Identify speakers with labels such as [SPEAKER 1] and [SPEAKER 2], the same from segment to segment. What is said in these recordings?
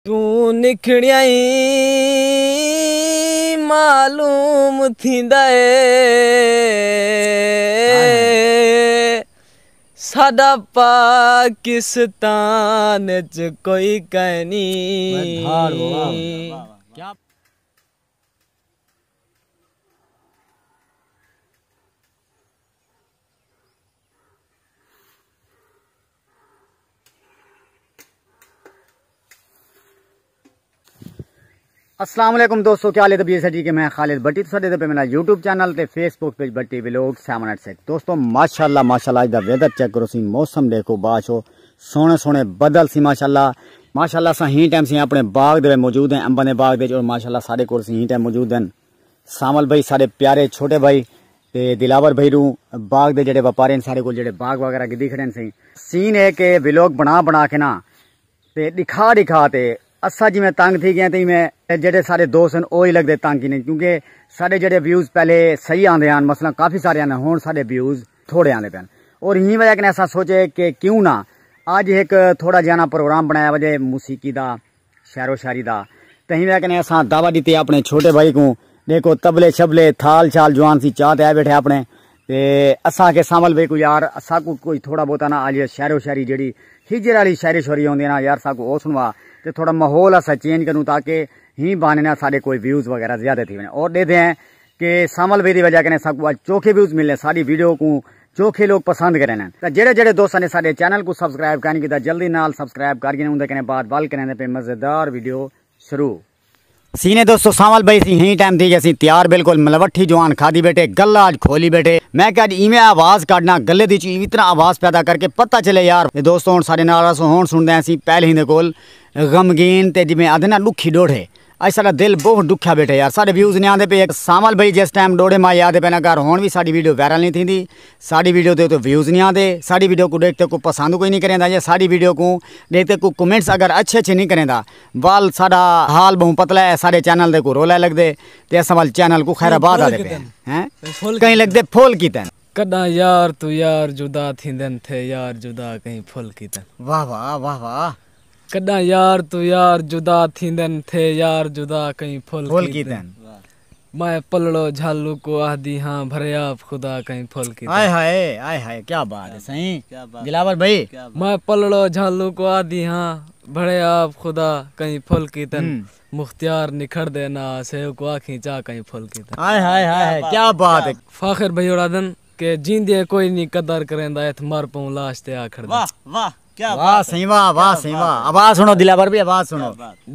[SPEAKER 1] توں نکھڑیا ای معلوم تھیندا اے ساڈا پاکستان اچ کوئی کائنی۔
[SPEAKER 2] السلام علیکم دوستو کیا لیتا بیسا جی کہ میں خالد بٹی تو ساڑھے دے پہ میرا یوٹیوب چینل تے فیس بک پیج بٹی ویلوگ سیون ایٹ سیک دوستو ماشاءاللہ ماشاءاللہ آج دا ویدر چیک کرو سی موسم دیکھو باش ہو سونے سونے بدل سی ماشاءاللہ ماشاءاللہ سا ہی ٹائم سی اپنے باغ دے موجود ہیں امبنے باغ دے جو ماشاءاللہ ساڑھے کور سی ہی ٹائم موجود ہیں سانول بھائی ساڈے پیارے چھوٹے بھائی تے دلاور بھائی روں باغ دے جڑے وپاری ہن ساڈے کول جڑے باغ وغیرہ گھدی کھڑے ہن سئیں۔ سین اے کہ ویلوگ بنا بنا کے نا تے ڈکھا ڈکھا تے اساں جیویں تنگ تھی گئے تے ایویں جڑے ساڈے دوست ہن او ای لگدے تنگ کینیں کیونکہ ساڈے جڑے ویوز پہلے صحیح آندے ہن مثلا کافی سارے آندے ہن ساڈے ویوز تھوڑے آندے پئے ہن اور ہی وجہ کنے اساں سوچے کہ کیوں نا اج ہک تھوڑا جیاں نا پروگرام بنایا وجے موسیقی دا شعر و شاعری دا کہیں وے کنے اساں دعوت ڈتی ہے اپنے چھوٹے بھائی کوں ڈیکھو طبلے شبلے تھال شال جوان سی چاہ تے آئے بیٹھے اپنے تے اساں کے سامل بھئی کو یار اساں کو کوئی تھوڑا بہتا نا آجے شعر و شاعری جیڑی ہجر والی شعر و شاعری ہوندی ہے نا یار اساں کو او سنوا تے تھوڑا ماحول اساں چینج کروں تاکہ ہی بہانے نا ساڈے کوئی ویوز وغیرہ زیادہ تھی ونجن اور ڈیدھے ہیں کہ سامل بھئی دی وجہ کنے اساں کو اج چوکھے ویوز ملنے ساڈی ویڈیو کوں چوکھے لوگ پسند کریں نن تاں جیڑھے جیڑھے دوستاں نے ساڈے چینل کوں سبسکرائب کائنی کیتا جلدی نال سبسکرائب کر گھنیں اوندے کنے بعد ول کریں تاں پے مزیدار ویڈیو شروع تھینے دوستو سانول بھائی اسی ہیں ٹائم تھی گئے اسی تیار بالکل ملوٹھی جوان کھادی بیٹھے گلہ اج کھولی بیٹھے میں کہ اج ایویں آواز کاڈنا گلے دی چوں اتنا آواز پیدا کر کے پتہ چلے یار تے دوستو ہن ساڈے نال رسو ہن سنڑدے ہیں اسی پہلے ہی دے کول غمگین تے جویں آدھے نا ڈکھی ڈوڑھے اج ساڈا دل بہوں ڈکھیا بیٹھے یار ساڈے ویوز نی آندے پئے ہک سانول بھائی جس ٹائم ڈوڑے مائی آدے پئے نا گھر ہن وی ساڈی ویڈیو وائرل نی تھیندی ساڈی ویڈیو تے اتو ویوز نی آندے ساڈی ویڈیو کوں ڈیکھتے کوئی پسند کوئی نی کریندا یا ساڈی ویڈیو کوں ڈیکھتے کوئی کمنٹس اگر اچھے اچھے نی کریندا وال ساڈا حال بہوں پتلا ہے ساڈے چینل تے کوئی رولے لگدے تے اساں وال چینل کوں خیر آباد آدے پئے ہیں کہیں لگدے پھول کیتن۔ کڈاں یار
[SPEAKER 1] تو یار جدا تھیندن تھے یار جدا کہیں پھول کیتن۔ واہ واہ واہ
[SPEAKER 2] واہ کݙاں یار
[SPEAKER 1] توں یار جدا تھیندن تھے یار جدا کئیں پھل کیتن میں پلڑو جھل اوکوں آہدی ہاں بھریاپ خدا کئیں پھل کیتن ہائے ہائے ہائے ہائے
[SPEAKER 2] کیا بات ہے سائیں دلاور بھائی میں پلڑو
[SPEAKER 1] جھل اوکوں آہدی ہاں بھریاپ خدا کئیں پھل کیتن مختیار نکھڑ دے نہ آسے اوکوں آکھیں چا کئیں پھل کیتن ہائے ہائے ہائے کیا
[SPEAKER 2] بات ہے فاخر بھائی ہوڑاں آہدن
[SPEAKER 1] کہ جیندے کوئی نی قدر کریندا اتھ مر پئوں لاش تے آ کھڑدے واہ واہ۔
[SPEAKER 2] واہ سائیں واہ واہ سائیں واہ آواز سنو دلاور بھی آواز سنو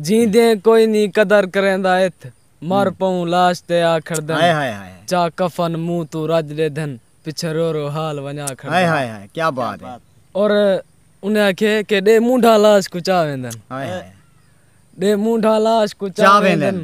[SPEAKER 2] جیندے
[SPEAKER 1] کوئی نی قدر کریندا اتھ مر پئوں لاش تے آ کھڑدن چا
[SPEAKER 2] کفن منہ
[SPEAKER 1] توں رج ڈیدھن پچھے رو رو حال ونجا کھڑدن
[SPEAKER 2] اور
[SPEAKER 1] انہیں آکھیے کہ ڈے مونڈھا لاش کوں چا ویندن
[SPEAKER 2] ڈے
[SPEAKER 1] مونڈھا لاش کوں چا ویندن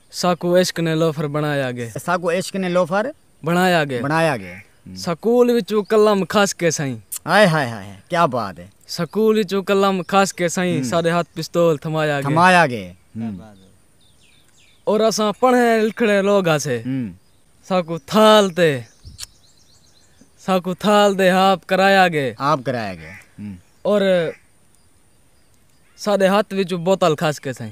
[SPEAKER 1] ساکوں عشق نے لوفر بنڑایا گے۔ ساکوں عشق نے لوفر
[SPEAKER 2] بنڑایا گے۔ بنڑایا
[SPEAKER 1] گے۔ سکول وچوں قلم کھس کے سئیں۔ ہائے ہائے ہائے ہائے
[SPEAKER 2] کیا بات ہے۔ سکول وچوں قلم
[SPEAKER 1] کھس کے سئیں ساڈے ہتھ پستول تھمایا گے۔ تھمایا گے۔ کیا بات ہے۔ اور اساں پڑھے لکھڑے لوگ ہاسے۔ ساکوں تھال تے ساکوں تھال دے ہاپ کرایا گے۔ ہاپ کرایا گے۔ اور ساڈے ہتھ وچوں بوتل کھس کے سئیں۔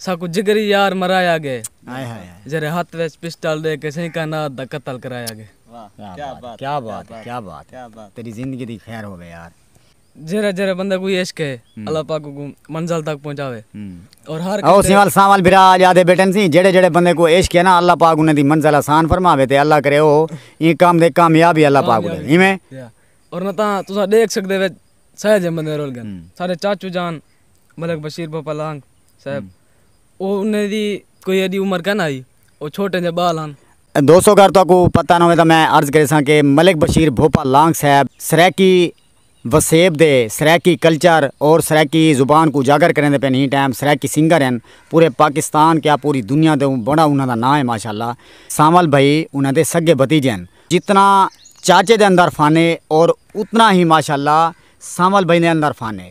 [SPEAKER 1] ساکوں جگری یار مرایا گئے جیرھے ہتھ وچ پسٹل ڈے کے سئیں کائنات دا قتل کرایا گئے۔ کیا بات ہے کیا بات ہے تیری زندگی دی خیر ہووے یار۔ جیرھا جیرھا بندہ کوئی عشق ہے اللہ پاک اوکوں منزل تک پہنچاوے اور ہر کسے۔ او سیوال سانول بھرا
[SPEAKER 2] آج آدھے بیٹھن سی جیڑھے جیڑھے بندے کو عشق ہے نا اللہ پاک انہاں دی منزل آسان فرماوے تے اللہ کرے او ایں کم دے
[SPEAKER 1] کامیاب
[SPEAKER 2] ہی اللہ
[SPEAKER 1] پاک کو
[SPEAKER 2] دے
[SPEAKER 1] ایویں۔
[SPEAKER 2] اور نہ
[SPEAKER 1] تاں
[SPEAKER 2] تساں
[SPEAKER 1] ڈیکھ
[SPEAKER 2] سکدے وچ سہجے
[SPEAKER 1] بندے رول گن سارے چاچو جان۔ ملک بشیر بھوپا لانگ صاحب او انہیں دی کوئی ایڈی عمر کن آئی او چھوٹے جے بال ہن دوستو اگر تہاکو
[SPEAKER 2] پتہ نہ ہووے تاں میں عرض کریساں کہ ملک بشیر بھوپا لانگ صاحب سرائیکی وسیب دے سرائیکی کلچر اور سرائیکی زبان کوں اجاگر کریندے پئن ہیں ٹائم سرائیکی سنگر ہن پورے پاکستان کیا پوری دنیا دے بڑا انہاں دا ناں ہے ماشاءاللہ سانول بھائی انہاں دے سگے بھتیجے ہن جتنا چاچے دے اندر فن ہے اور اتنا ہی ماشاءاللہ سانول بھائی دے اندر فن ہے۔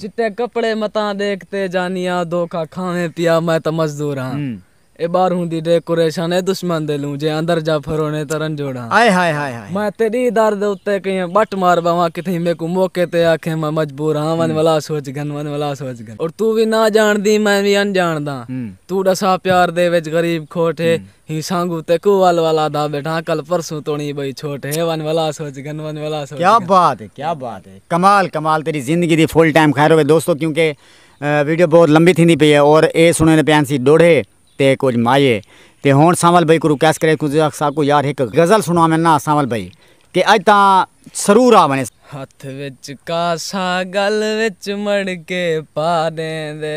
[SPEAKER 1] چٹے کپڑے متاں ڈیکھ تے جانیاں دھوکا کھاویں پیا میں تاں مزدور ہاں اے باہروں دی ڈیکوریشن اے دشمن دے لوں جے اندر جا پھرونے تاں رنجوڑ ہاں میں تیڈی در دے اتے کہیں بٹ مار بہواں کتھیں میکوں موقع تے آکھیں میں مجبور ہاں ونج ولا سوچ گھن ونج ولا سوچ گھن اور توں وی نہ جانڑدی میں وی انجانڑداں توں ڈسا پیار دے وچ غریب کھوٹ ہے ہی سانگوں تیکوں ول ول آہدا بیٹھاں کل پرسوں توڑیں بئی چھوٹ ہے ون ولا سوچ گن ون ولا سوچ کیا بات ہے کیا بات ہے کمال کمال تیری زندگی دی فل ٹائم خیر ہوے دوستو کیونکہ ویڈیو بہت لمبی تھیندی پئی ہے اور اے سنڑیندے پیاں سی ڈوڑھے تے کجھ مائے تے ہن سانول بھائی کو ریکویسٹ کرے کوں اساں کوں یار ہک غزل سنڑاویں نا سانول بھائی تے اج تاں سرور آ ونڑے۔ ہتھ وچ کاسہ گل وچ مڑکے پا ڈیندے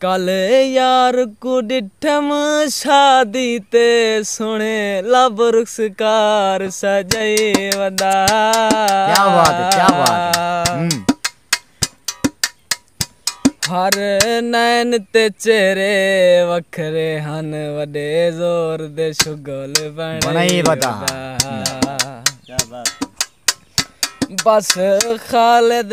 [SPEAKER 1] کل یار کوں ڈٹھم شادی تے سوہنے لب رخسکار سجائی وندا۔ ہر نین تے چہرے وکھرے ہن وڈے زور دے شغل بنڑائی وندا۔ بس خالد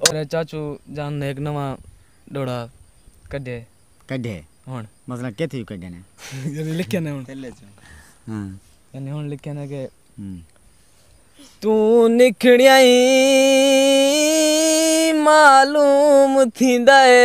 [SPEAKER 1] او میڈے چاچو جان نے ہک نواں ڈوڑا کڈھے۔ کڈھے ہن۔ مثلا کتھ وچ کڈھے نے۔ یعنی لکھے نے ہن۔ ہاں۔ یعنی ہن لکھے نے کہ۔ توں نکھڑیاں ای معلوم تھیندا اے۔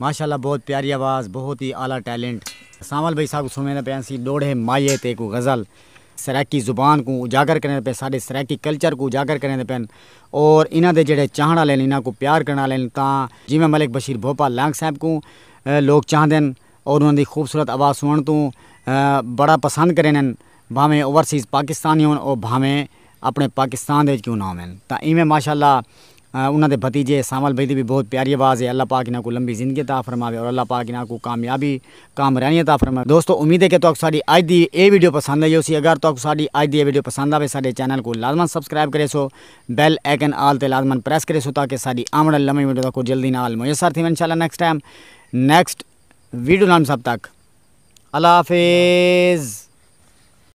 [SPEAKER 2] ماشاءاللہ بہت پیاری آواز بہت ہی اعلی ٹیلنٹ سانول بھائی ساکوں سنڑیندا پیا سی ڈوڑھے مایے تے کوئی غزل سرائیکی زبان کوں اجاگر کریندے پئے ساڈے سرائیکی کلچر کوں اجاگر کریندے پئے اور انہاں دے جیہڑے چاہنڑ والے ہن انہاں کوں پیار کرنڑ والے ہن تاں جیویں ملک بشیر بھوپا لانگ صاحب کوں لوگ چاہندے ہن اور انہاں دی خوبصورت آواز سنڑنڑ توں بڑا پسند کریندے ہن بھانویں اوورسیز پاکستانی ہن اور بھانویں اپݨے پاکستان دے وچ کیوں نہ ہوون تاں ایویں ماشاء اللہ انہاں دے بھتیجے سانول بھائی دی وی بہت پیاری آواز ہے اللہ پاک انہاں کوں لمبی زندگی عطا فرماوے اور اللہ پاک انہاں کوں کامیابی کامرانی عطا فرماوے دوستو امید ہے کہ تہاکوں ساݙی اڄ دی ایہ ویڈیو پسند آئی ہوسی اگر تہاکوں ساݙی اڄ دی ایہ ویڈیو پسند آوے ساݙے چینل کوں لازمن سبسکرائب کریسو بیل آئیکن آل تے لازمن پریس کریسو تاکہ ساݙی آوݨ آلی نویں ویڈیو تہاکوں جلدی نال میسر تھیون انشاءاللہ نیکسٹ ٹائم نیکسٹ ویڈیو نال سب تک اللہ حافظ۔